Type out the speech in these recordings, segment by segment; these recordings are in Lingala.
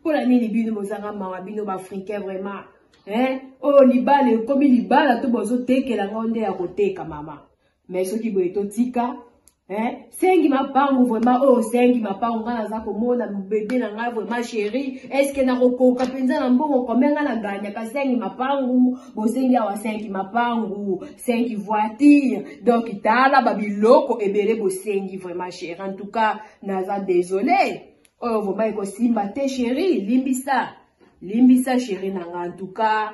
mpo na nini bino bozanga mawa bino baafricain vraiment eh? oyo libala ekomi libala to bozotekela ngo nde ya koteka mama me soki boye totika eh? sengi mapangu vraiment oyo oh, sengi mapangu ngai naza komona bebe na ngai vraiment sheri eske nakokoka mpenza na mbongo kome ngai naganyaka sengi mapangu bosengi awa sengi mapangu sengi voiture donk tala babiloko ebele bosengi vraiment sheri en tout cas naza desole Oyo vraiment ekosimba te cherie limbisa. Limbisa cherie na nga en tout cas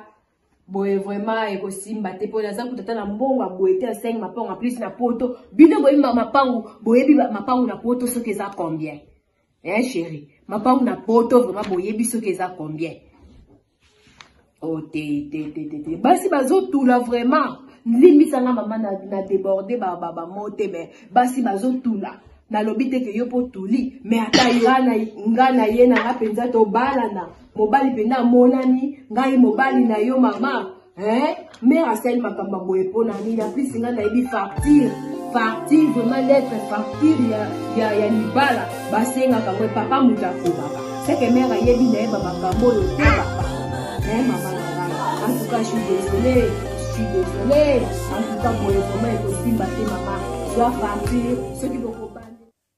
boye vraiment ekosimba te mpo naza kutata na mbongo ya boye te ya 5 mapango en plus na poto bino boyebi mapango boyebi mapango na poto soki eza combien eh chéri mapango na poto vraiment boyebi soki eza combien oh te te te te te basi bazotula vraiment limbisa nga mama na, na deborde bamo te me basi bazotula nalobi te ke yo mpo tuli me ata nga na ye na nga mpenza tobalana mobali mpenza amonani ngai mobali na yo mama Eh, mère asali makambo boye mpo na nini aplus nga nayebi facture facture vraiment lettre facture ya, ya, ya libala basengaka boye papa moto akobaka seke mère ayebi nayeba makambo oyo te papa eh, mama na ngai en tout cas je suis désolé je suis désolé en tout cas boye vraiment ekosimba te mama zwa facture soki boko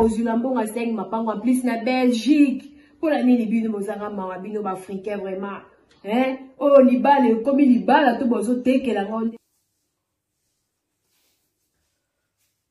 kozwila mbongo asengi mapango en plus na belgique mpo na nini bino bozanga mawa bino baafricain vraiment eh? oyo oh, libala ekomi libala to bozotekela ngo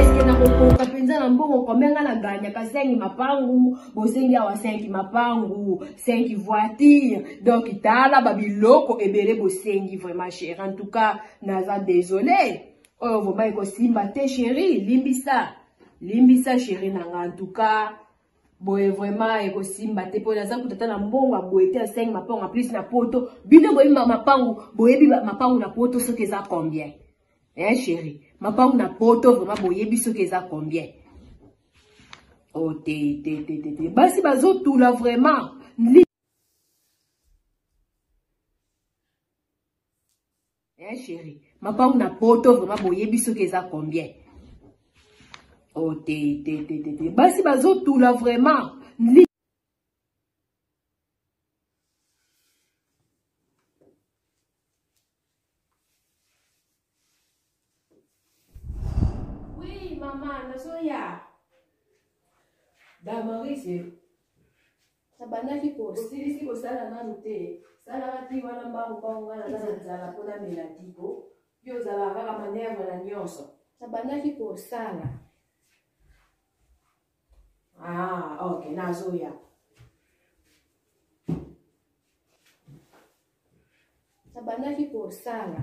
eske nakokoka mpenza na mbongo kombe nga na ganyaka 5 mapangu bosengi awa 5 mapangu 5 voiture donc tala babiloko ebele bosengi vraiment chéri en tout cas naza désolé oyo vraimen ekosimba te chéri limbisa limbisa chéri na nga en tout cas boye vraiment ekosimba te mpo naza kuta ata na mbongo ya boye te ya 5 mapangu en plus na poto bino boyebi mapangu boyebi mapangu na poto soki eza combien Eh chérie, mapangu na poto vraiment boyebi soki eza combien? Oh te te te te te. Basi bazotula vraiment. Eh chérie, mapangu na poto vraiment boyebi soki eza combien? Oh te te te te te. Basi bazotula vraiment. mama nazoya damarise nabandaki kosilisi kosala nanu te salaka ti wana mbangu mbangu nga naza na nzala mpo namela tiko yo ozalaka kaka manerve na nyonso nabandaki kosala Ah, ok, nazoya. Nabandaki kosala.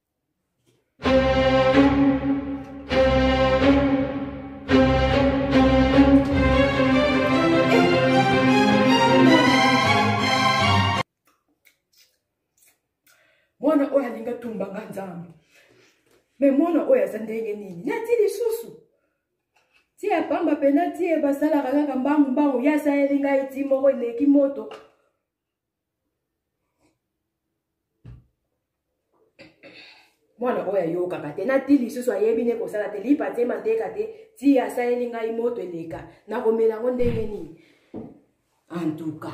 mwana oyo alingi atumba nga nzambe me mwana oyo aza ndenge nini nati lisusu tie pamba pena tie basalaka kaka mbangu mbangu ye asaleli ngai ti moko eleki moto mwana oyo ayokaka te nati lisusu ayebi nde kosala te lipa te mateka te ti asaleli ngai moto eleka nakomela yango ndenge nini antuka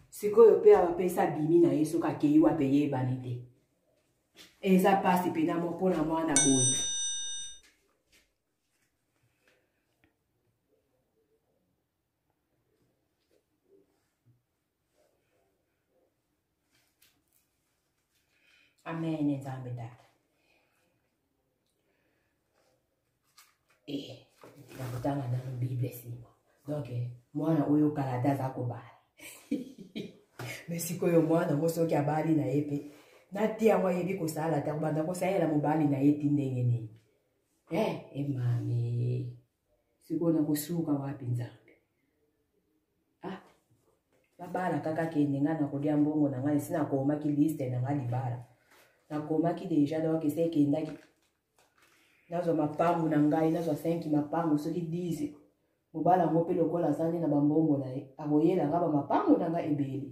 sikoyo mpe apesa bimi na ye soki akei wape yebani te eza mpasi mpena mo mpo na mwana boye Amen, Nzambe Tata. Eh, nakotanga nano Bible nsima. Donc, eh, mwana oyo kala ata aza kobala. me sikoyo mwana yango soki abali na ye mpe nati yango ayebi kosala te kobanda kosalela mobali na ye ti ndenge nini e eh, emami eh, sikoyo nakosuka wapi nzambe ah babala kaka kende ngai nakolia mbongo na ngai esi nakomaki liste na ngai libala nakomaki deja donc esi ekendaki nazwa mapangu na ngai nazwa 5 mapangu soki 10 mobala yango mpe lokola azali na bambongo na ye akoyela nga bamapangu na ngai ebele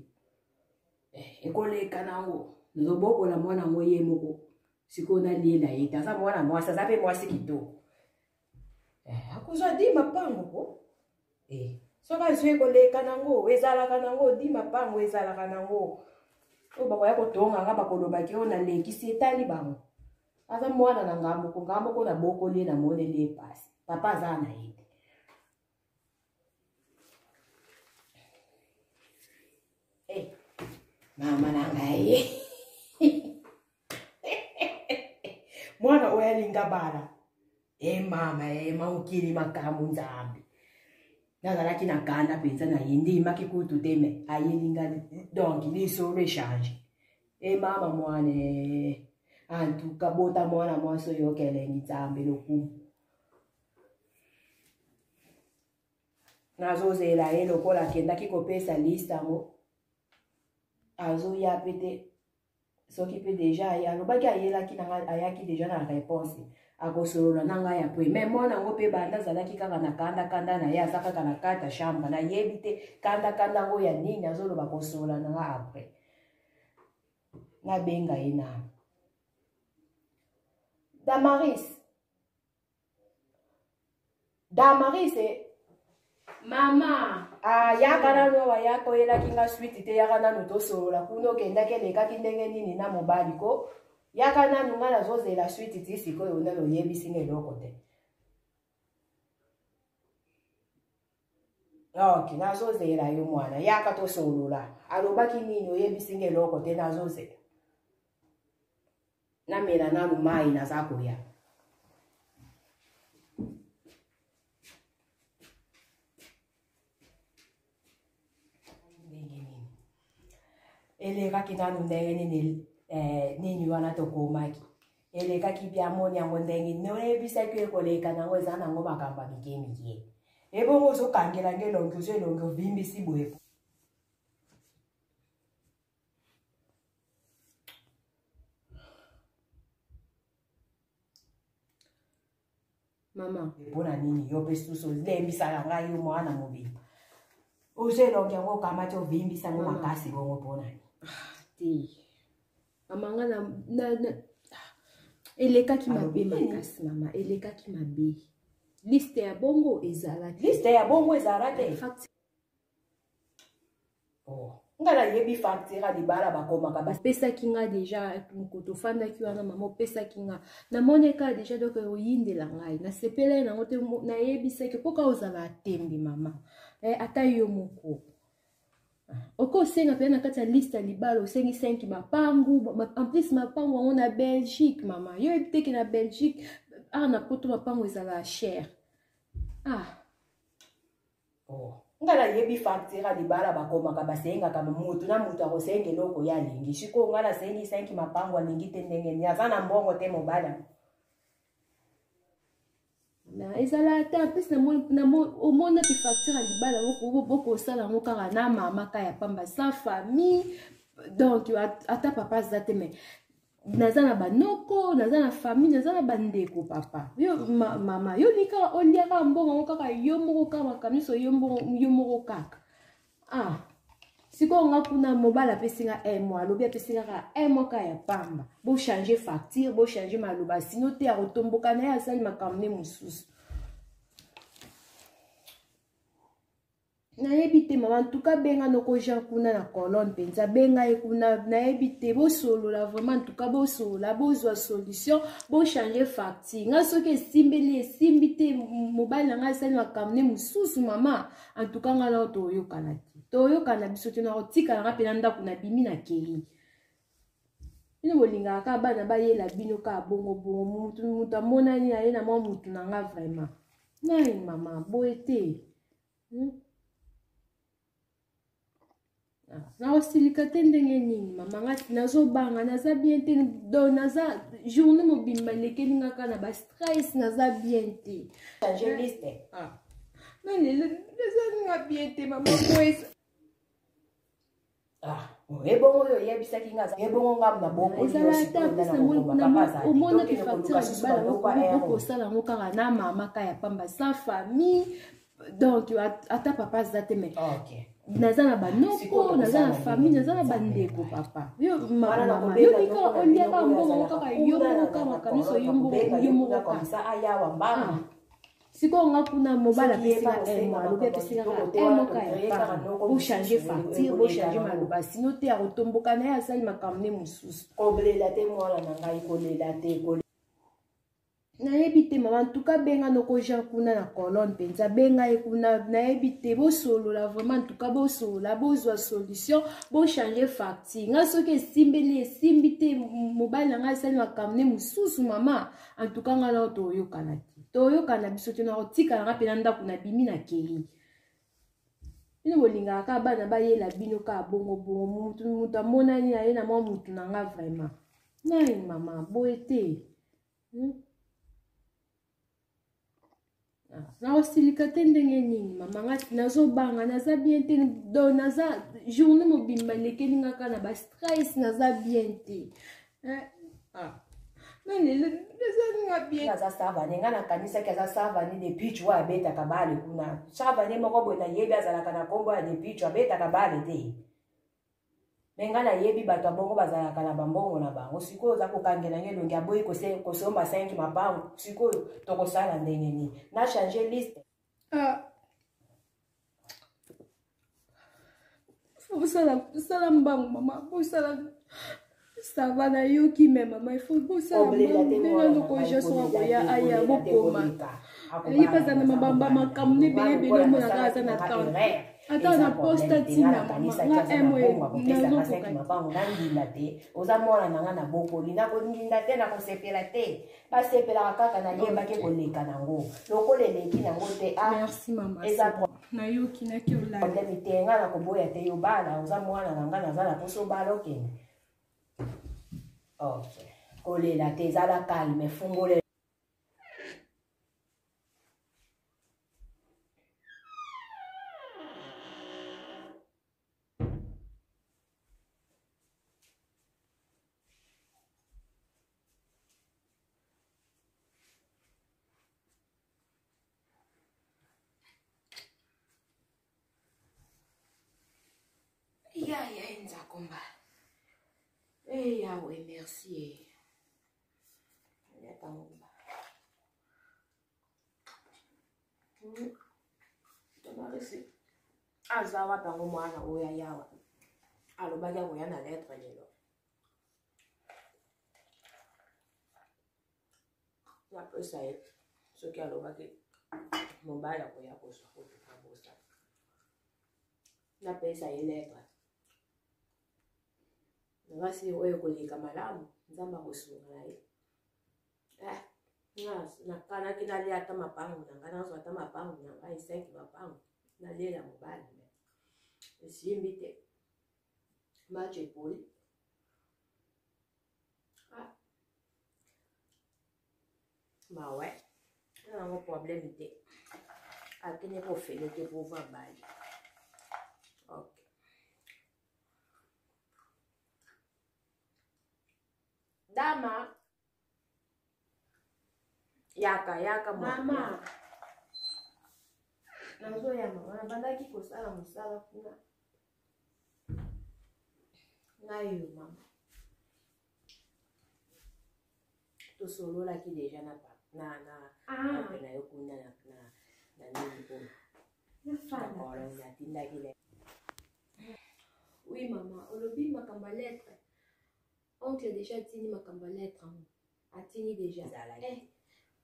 eh, ekoleka nango nazobokola mwana yango ye moko sikoyo naliela ye te aza mwana mwasi aza mpe mwasi kitoko Eh, akozwa di mapango ko eh, soki azwi ekoleka nango ezalaka nango di mapango ezalaka nango oyo bakoya kotonga nga bakolobaki oyo nalekisi etali bango aza mwana na ngambo ko ngambo ko na bokoli ye na moneli ye pasi papa aza na ye mama na ngai mwana oyo alinga bala e mama e maokili makambo nzambe nazalaki na kanda mpenza na ye ndimaki kutu te me ayelinga donk lisolo echange e mama mwana antuka bota mwana mwasi oyo okelengi nzambe lokumu nazozela ye lokola akendaki kopesa liste yango azoya mpe te soki mpe deja aye alobaki ayelaki na ngai ayaki deja na réponse akosolola na ngai ya pui mai mwana yango mpe banda azalaki kaka na kanda kanda na ye aza kaka na kati ya chambre nayebi te kanda kanda yango ya nini azoloba kosolola na ngai après nabenga ye na damaris damarise mama ah, yaka nanu awa yaka oyelaki nga switi te yaka nanu tosolola kuna okendaki elekaki ndenge nini na mobali ko yaka nanu nga nazozela switi ti sikoyo nano oyebisi nga eloko te ok nazozela yo mwana yaka tosolola alobaki nini oyebisi nga eloko te nazozela namela nanu mai naza koya elekaki nanu ndenge nini eh, nini wana tokomaki elekaki biamoni yango ndenge nini oyebisaki ekoleka nango eza nango makambo ya mike mike ebongo ozokangelanga elongi ozo elongi ovimbisi boye mama mpona nini yo mpe susu olembisaka ngai yo mwana mobimba ozo elongi yango okamati ovimbisa ngo makasi bongo mpona nini ah, te mama nga na, na, na ah, elekaki mabe makasi mama elekaki mabe liste ya bongo ezalaki liste ya bongo ezala te oh. nga nayebi facture ya libala bakomaka bapesaki nga deja mokoto ofandaki wana mama opesaki nga namoni kaka deja dok oyindela ngai nasepelai nango te nayebisaki mpo kaka ozala atembi mama eh, ata yo moko ah, oke osenga mpenza na kati ya liste ya libala osengi 5 mapangu en plus mapangu yango na belgique mama yo oyebi teke na belgique awa ah, na poto mapangu ezala chere ah oh. nga nayebi factura libala bakomaka basengaka motu na motu akosenga eloko ye alingi sikoyo nga nasengi senki mapango alingi te ndenge nini aza na mbongo te mobala na ezala ata mpesi omona mpe facture ya libala bokosala yango kaka na mama ka ya pamba sa famille donc ata papa aza te mai naza na banoko naza na famille naza na bandeko papa yo ma, mama yo ni kaka olia kaka mbongo yango kaka yo moko kaka makambo nyonso yo moko kaka ah sikoyo nga kuna mobali apesi nga un mois alobi apesi nga kaka un mois kaka ya pamba bochange facture bochange maloba sino te akotomboka na ye asali makambo ne mosusu nayebi te mama ntuka benga noko jean kuna na colonne mpenza benga ye kuna nayebi te bosolola vraiment ntuka bosolola bozwa solution bochange facture ngai soki esimbeli esimbi te mobali na ngai asali makambo ne mosusu mama antuka ngai nao toyokana te toyokana biso te nakotikala ngai mpe na ndako nabimi na kei bino bolingaka kaka bana bayela bino kaka bongo bongo motu motu amonani aye na mwa motu na nga vraiment nai mama boye te hmm? ah, nakosilika te ndenge nini mama nga nazobanga naza bien te do naza journée mobimba elekeli nga kaka na bastress naza bien te ah. na lelo naza nga bien te mama boye Ah, ebongo oyo oyebisaki nga ebongo nga na bokoezaataomonaki facture ya libala okosala yango kaka na mama ka ya pamba sa famille donc ata papa aza te mai naza na banoko naza na famille naza na bandeko papa yo mama yo tika oliaka mbongo kaka yo moko kaka miso yo moko yo moko kaka sikoyo nga kuna mobali apesi nga un mois alobi apesi nga kaka un moka ya pari bochange facture bochange maloba sino te akotomboka na ye asali makambo ne mosusu kolela te mwana na ngai kolela te nayebi te mama ntuka benga noko jean kuna na colonne mpenza benga ye kuna nayebi te bosolola vraiment ntuka bosolola bozwa solution bochange facture ngai soki esimbeli esimbi te mobali na ngai asali makambo ne mosusu mama en tout cas nga nao toyokana te toyokana biso te nakotikala nga mpe na ndako na bimi na kei bino bolingaka kaka bana bayela bino kaka bongobongo motu motu amonani aye na mwa motu na nga vraiment nai mama boye te hmm? Ah, nakosilika te ndenge nini mama nga nazobanga naza bien te do naza journée mobimba elekeli nga kaka na bastress naza bien te eh, ah. aza savane ngai nakanisaki aza savane depichu oyo abetaka bale kuna savane moko boye nayebi azalaka na nkombo ya depichu abetaka bale te me ngai nayebi bato ya bongo bazalaka na bambongo na bango sikoyo oza kokangela nge elongi aboyi kosomba 5 mabango sikoyo tokosala ndenge nini na change liste ah. bosala mbango mama bosala Ça va na yo qui mais maman il faut pour ça maman no ko je sois ko ya aya bo koma. Yi pas na mabamba makamne bele bele mo na kaza na temps. ata na poste atinda nga emoynazokoka mabango nandinda te oza mwana na nga na bokoli nakoninda te nakosepela te basepelaka kaka nayebaki koleka nango lokola eleki nango te ah, eza nayoki naki olalaproblème te nga na koboya te yo bala oza mwana na nga naza na poso obala okende ok kolela te ezala calme fungolela ya ya enzakomba e eh, yawe merci eh. yatangomba tomarisi aza wapi yango mwana oyo ayawa alobaki akoya na letre lelo napesa ye soki alobaki mobali akoya kozwa kotuka bosa napesa ye letre nabasi oyo koleka malamu nzambe akosunga na ye eh, nakanaki nalia ata mapangu na ngai nazwa ata mapangu na ngai cinq mapangu nalela mobali me esimbi te match epoli ah. mawe yango problème te akende kofele te pouvoir bali ok dama yaka yaka mama nazoya mama nabandaki kosala mosala kuna nayo mama tosololaki deja na na na ah. na yo kuna na na na nini kuna natindaki le oui mama olobi makambo ya lettre Oncle deja atindi makambo ya lettre yango. Atindi deja. Ezalaki. Eh.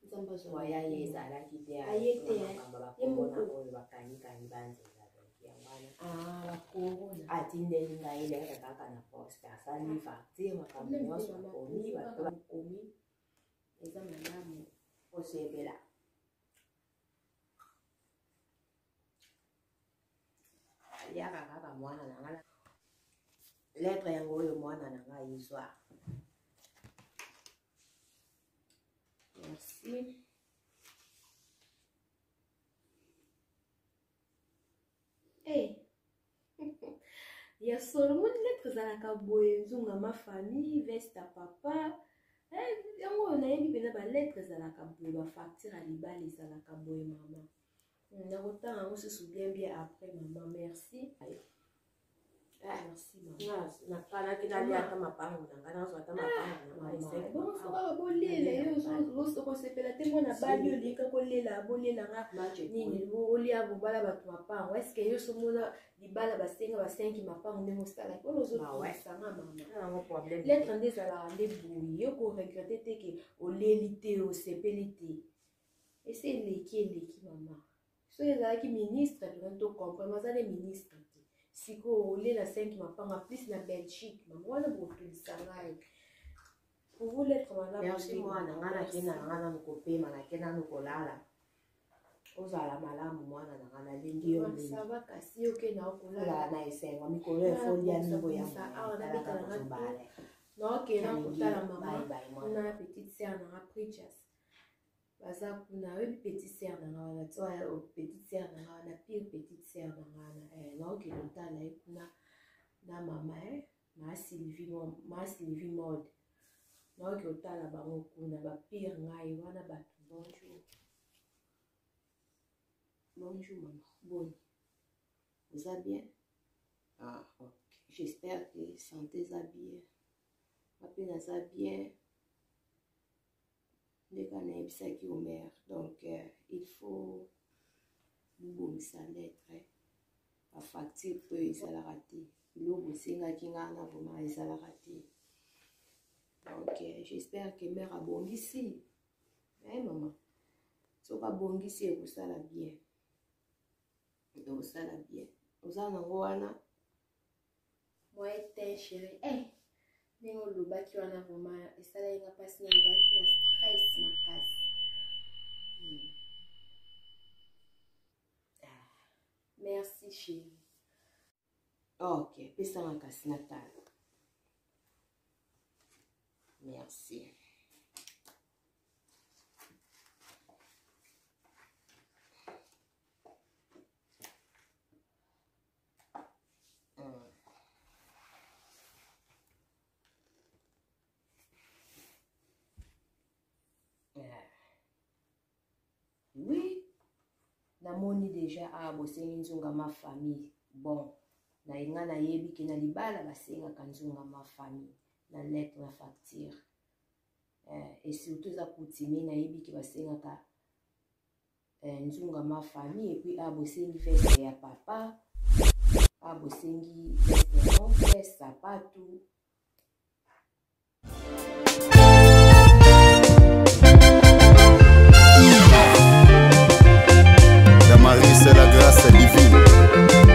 Nzambe azwa. Waya ye ezalaki te. Aye te. Makambo ya corona oyo bakangi kangi banzi ezalaki ya wana. Ah, ba corona. Atindeli ngai lettre kaka na poste. Asali ah. facture makambo nyonso akomi bato bakomi. Eza malamu. Osebela. aliaka kaka mwana na ngai lettre yango oyo mwana na ngai izwa merci hey. ya solo moni lettre ezalaka boye nzunga ma famille vesta papa eh, yango oyo nayebi mpenza balettre ezalaka boye bafacture ya libala ezalaka boye mama nakotanga yango susu bien bien après mama merci ah, nakanaki naliaka mapango na ngai nazwa ata mapangobolela yo okosepela te mwana bali olika kolela bolela nga nini olia bobala bato mapango eske yo somona libala basenga basengi mapango ndenge osalaki oyo ozosanga mamaletre nde ezalaka nde boye yo koregrete te ke oleli te osepeli te esi eleki eleki mama soki ezalaki ministre tokani tocomprendre aza nde ministre te sikoyo olie na 5 mapanga plus na belgique mama wana bokotulisa ngai merci mwana ngai nakenda na ngai nanu kopema nakenda nanu kolala ozala malamu mwana na ngai nalingi yo mingiozala na esengo mikolo efoli ya mingo ya mwana naokenda kotala mama na petite sere na nga preachers baza kuna oyebi petite sere na nga wana to oh, petite sere na nga wana pire petite sere na nga wana eh, naokende otala ye kuna na mama e eh, maa sylvie mode naoki otala bango kuna bapire ngai wana bato bonjour bonjour mama boni oza bien ah, ok j'espère que santé eza bien wapi naza bien ndeko anayebisaki omer donc euh, il faut bobongisa lettre bafacture mpe ezalaka te biloko esengaki ngai na vraimen ezalaka te donc euh, j'espère que mare abongisi e eh, mama soki abongisi ekosala bien ekosala bien oza nango wana moyen te chérie eh ndenge olobaki wana vraiment esalaki nga mpasi na ezalaki na stress makasi hmm. ah, merci chéri ok pesa makasi na tala merci namoni deja awa ah, bosengi nzunga ma famille bon na nga nayebi ke na libala basengaka nzunga ma famille na lettre na facture eh, et surtout eza coutumier nayebi ke basengaka eh, nzunga ma famille et puis ah bosengi veste ya papa ah bosengi veste ya oncle sapatu Damaris la grâce divine